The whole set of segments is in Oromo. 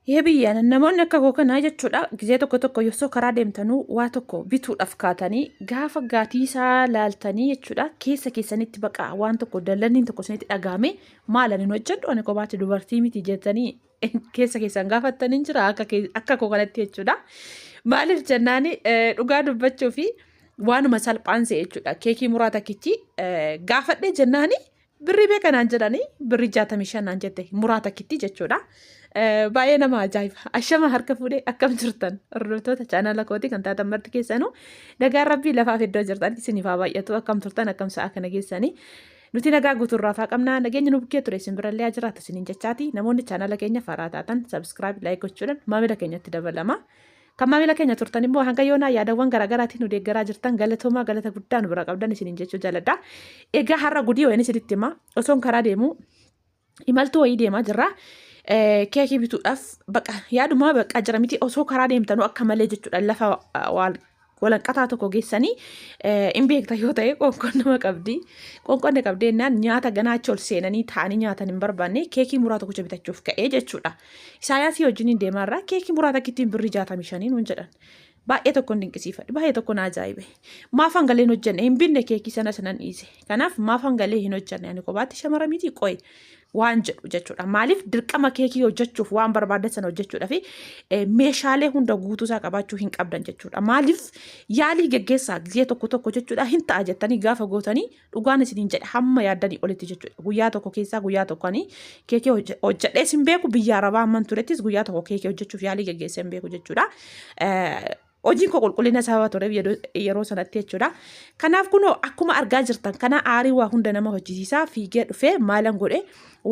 Yee biyya namoonni akka koo kanaa jechuudha gizee tokko tokko yossoo karaa deemtanuu waa tokko bituudhaaf kaatanii gaafa gaatii isaa laaltanii jechuudha keessa keessanitti baqa waan tokko dallanniin tokko isinitti dhagaame maala nin hojjedhu ani kophaatti dubartii miti jettanii keessa keessan gaafattanii jira akka kee- akka koo kanatti jechuudha maaliif jennaani eh, dhugaa dubbachuu fi waanuma salphaan se'e jechuudha keekii muraa takkichi eh, gaafadhee jennaani Birrii meeqa naan jedhanii birrii jaatamii shan naan jette muraa takkittii jechuudha. Baay'ee nama ajaa'iba. Ashama harka fuudhee akkam jirtan hordoftoota chaanala kootii kan taatan marti keessanuu nagaan rabbii lafaaf iddoo jirtan isiniif haa baay'atu akkam turtan akkam sa'a kana geessanii. Nuti nagaa guutuurraa faa qabna nageenya nu bukkee ture isin birallee haa jiraatu isiniin jechaati namoonni chaanala keenya faraa taatan sabiskiraayib laayik gochuudhaan maamila keenyatti dabalama. Kan maamila keenya turtan immoo hanga yoonaa yaadawwan garaagaraatiin nu deeggaraa jirtan galatoomaa galata guddaa nu bira qabdan isiniin jechuu jaaladha. Egaa har'a gudii wayini isinitti hima osoon karaa deemu imaltuu wayii deemaa jirra. Keekii bituudhaaf baqa yaaduma baqa jira miti osoo karaa deemtanuu akka malee jechuudha lafa walanqataa tokko geessanii hin beekta yoo ta'e qoonqoon nama qabdi. Qoonqoon na qabdi jennaan nyaata ganaa achi ol seenanii taa'anii nyaatan hin barbaanne keekii muraa tokkicha bitachuuf ka'ee jechuudha. Isaayaasii wajjiniin deemaa irraa keekii muraa takkittiin birrii jaatamii shanii nuun jedhan. Baay'ee tokkon dinqisiifadhe. Baay'ee tokko na ajaa'ibe. Maaf hangalee hin hojjenne? Hin binne keekii sana sanan dhiise. Kanaaf maaf hangalee hin hojjenne? Ani kophaatti shamara miti qoy waan jedhu jechuudha. Maaliif dirqama keekii hojjechuuf waan barbaadan sana hojjechuudha fi eh, meeshaalee hunda guutuu isaa qabaachuu hin qabdan jechuudha. Maaliif yaalii geggeessaa gizee tokko tokko jechuudha hin ta'a jettanii gaafa gootanii Dhugaan isiniin jedha hamma yaaddanii olitti jechuudha. Guyyaa tokko keessaa guyyaa tokko ani keekee hojje- hojjedhee sin beeku biyya arabaa amman turettis guyyaa tokko keekee hojjechuuf yaalii geggeessee hin beeku jechuudha. Eh, Hojiin koo qulqullina sababa tureef yeroo- yeroo sanatti jechuudha. Kanaaf kunoo akkuma argaa jirtan kana aarii waa hunda nama hojjisiisaa fiigee dhufee maalan godhe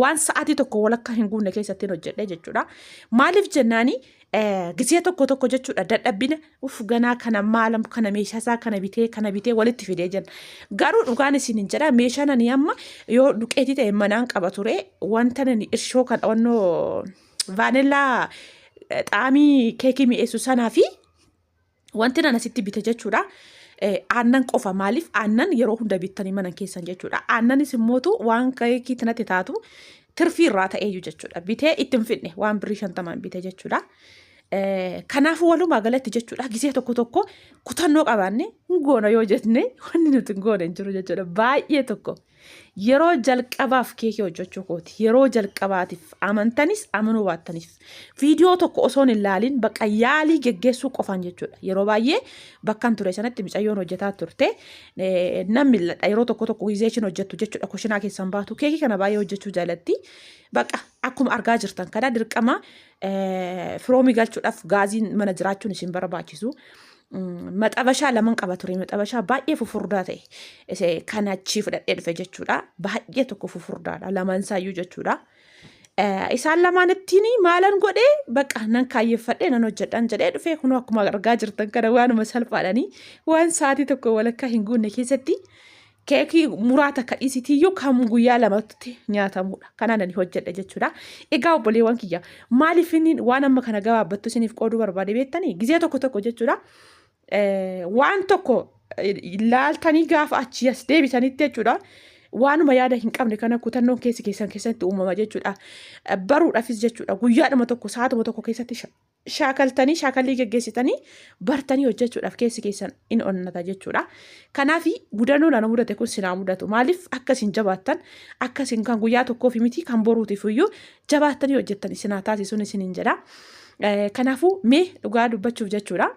waan sa'aatii tokko walakkaa hin guunne keessatti hin hojjedhe jechuudha. Maaliif jennaani Gisee tokko tokko jechuudha dadhabbina uf ganaa kana maalam kana meeshaa isaa kana bitee kana bitee walitti fidee jenna. Garuu dhugaan isin hin jedha meeshaan ani amma yoo duqeetii ta'e manaan qaba ture wanta nani irshoo kan onnoo vaanillaa xaamii keekii mi'eessu sanaa fi Wanti nan asitti bite jechuudha. Eh, aannan qofa maaliif aannan yeroo hunda bittanii mana keessan jechuudha. Aannanis immootu waan keekiitti natti taatu tirfii irraa ta'eeyyu jechuudha. Bitee ittiin fidne waan birrii shantamaan bite jechuudha. Eh, Kanaafuu walumaa galatti jechuudha gisee tokko tokko kutannoo qabaanne hin goona yoo jenne wanni nuti hin goone hin jiru jechuudha. Baay'ee tokko. Yeroo jalqabaaf keekii hojjechuu kooti. Yeroo jalqabaatiif amantanis amanuu baattanis viidiyoo tokko osoon hin laaliin bakka yaalii geggeessuu qofaan jechuudha. Yeroo baay'ee bakkan ture sanatti micayyoon hojjetaa turte eh, nan mil'adha. Yeroo tokko tokko gizee ishiin hojjettu jechuudha kushinaa keessan baatu. Keekii kana baay'ee hojjechuu jaalatti. Bakka akkuma argaa jirtan kana dirqama eh, firoomii galchuudhaaf gaaziin mana jiraachuun isin barbaachisu. maxabashaa laman qaba ture maxabashaa baay'ee fufurdaa ta'e ise kan achii fudhadhee dhufe jechuudha baay'ee tokko fufurdaadha lamaan isaayyuu jechuudha. Isaan lamaan ittiin maalan godhee baqa nan kaayyeffadhee nan hojjedhaan jedhee dhufee kunoo akkuma argaa jirtan kana waanuma salphaadhanii waan sa'aatii tokko walakkaa hin guunne keessatti keekii muraa takka dhiisitiyyuu kan guyyaa lamatti nyaatamudha. Kanaan ani hojjedha jechuudha. Egaa obboleewwan kiyya maaliif inni waan amma kana gabaabbattu isiniif qooduu barbaade beektanii gizee tokko tokko jechuudha. Waan tokko laaltanii gaafa achi as deebitanitti jechuudha. Waanuma yaada hin qabne kana kutannoon keessi keessan keessatti uumama jechuudha. Baruudhaafis jechuudha guyyaadhuma tokko saatuma tokko keessatti shaakaltanii shaakallii geggeessitanii bartanii hojjechuudhaaf keessi keessan in onnata jechuudha. Kanaaf gudannoon ana mudate kun sinaa mudatu maaliif akka isin jabaattan akka isin kan guyyaa tokkoof miti kan boruutiif iyyuu jabaattanii hojjettan isinaa taasisuun isiniin jedha. Kanaafuu mee dhugaa dubbachuuf jechuudha.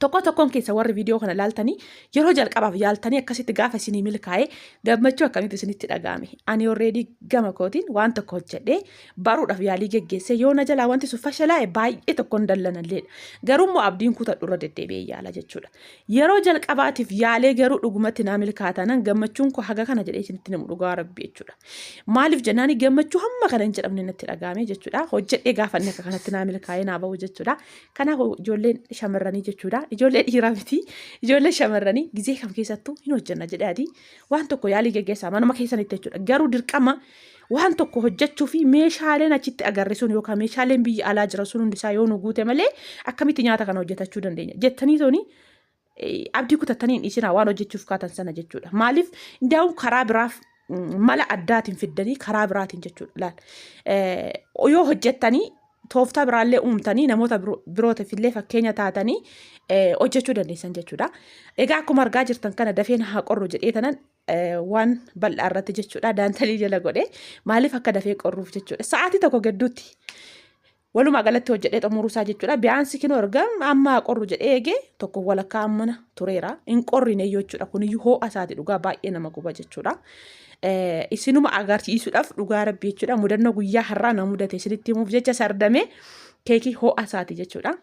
Tokko tokkoon keessa warri viidiyoo kana laaltanii yeroo jalqabaaf yaaltanii akkasitti gaafa isinii milkaa'e gammachuu akkamitti isinitti dhaga'ame. Ani already gama kootiin waan tokko hojjedhee baruudhaaf yaalii geggeessee yoo na jalaa wanti sun fashalaa'e baay'ee tokkoon dallanalleedha. Garuu immoo abdiin kutadhu irra deddeebi'ee yaala jechuudha. Yeroo jalqabaatiif yaalee garuu dhugumatti naa milkaatanan gammachuun koo haga kana jedhee isinitti namu dhugaa rabbi jechuudha. Maaliif jennaani gammachuu hamma kana hin jedhamne natti dhaga'ame jechuudha. Hojjedhee gaafanne akka kanatti naa milkaa'ee naa bahu jechuudha. Kanaaf ijoolleen shamarranii jechuudha. Ijoollee dhiiraa miti. Ijoollee shamarranii gizee kam keessattuu hin hojjenna jedhee adii waan tokko yaalii geggeessaa manuma keessanitti jechuudha. Garuu dirqama waan tokko hojjechuu fi meeshaaleen achitti agarre sun yookaan meeshaaleen biyya alaa jira sun hundisaa yoo nu guute malee akkamitti nyaata kana hojjetachuu dandeenya jettanii toni abdii kutattanii hin dhiisinaa waan hojjechuuf kaatan sana jechuudha. Maaliif daawun karaa biraaf mala addaatiin fiddanii karaa biraatiin jechuudha. Laal yoo hojjettanii tooftaa biraallee uumtanii namoota birootiif illee fakkeenya taatanii hojjechuu dandeessan jechuudha. Egaa akkuma argaa jirtan kana dafeen haa qorru jedhee tanan waan bal'aa irratti jechuudha daantalii jala godhee maaliif akka dafee qorruuf jechuudha. Sa'aatii tokko gidduutti Walumaa galatti hojjedhee xumuruu isaa jechuudha. Biyyaansi kinoo erga amma haa qorru jedhee eegee tokko walakkaa ammana tureera. Hin qorrine jechuudha. Kuniyyuu hoo'a isaati dhugaa baay'ee nama guba jechuudha. Isinuma agarsiisuudhaaf dhugaa rabbi jechuudha. Mudannoo guyyaa har'aa na mudate isinitti himuuf jecha sardamee keekii hoo'a isaati jechuudha.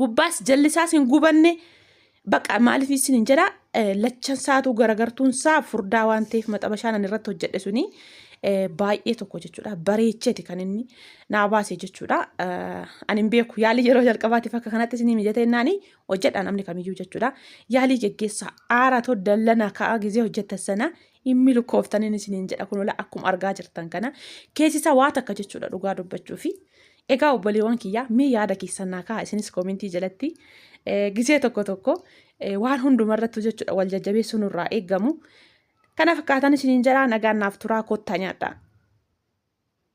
gubbaas jallisaas hin gubanne baqa maaliif isin hin jedha lachan saatu garagartuun saa furdaa waan ta'eef maxabashaan ani irratti hojjedhe suni baay'ee tokko jechuudha bareecheti kan inni naa baase jechuudha ani hin beeku yaalii yeroo jalqabaatiif akka kanatti isin mijatee naani hojjedha namni kamiyyuu jechuudha yaalii geggeessa aara too dallana ka'a gizee hojjetta sana inni lukkooftanin isin hin jedha kunola akkuma argaa jirtan kana keessisa waa takka jechuudha dhugaa dubbachuu fi Egaa obboleewwan kiyyaa mee yaada keessan naa ka'a isinis koomentii jalatti gisee tokko tokko waan hunduma irratti jechuudha wal jajjabeessuun irraa eegamu. Kana fakkaatan isiniin jedhaa nagaan naaf turaa kottaa nyaadhaa.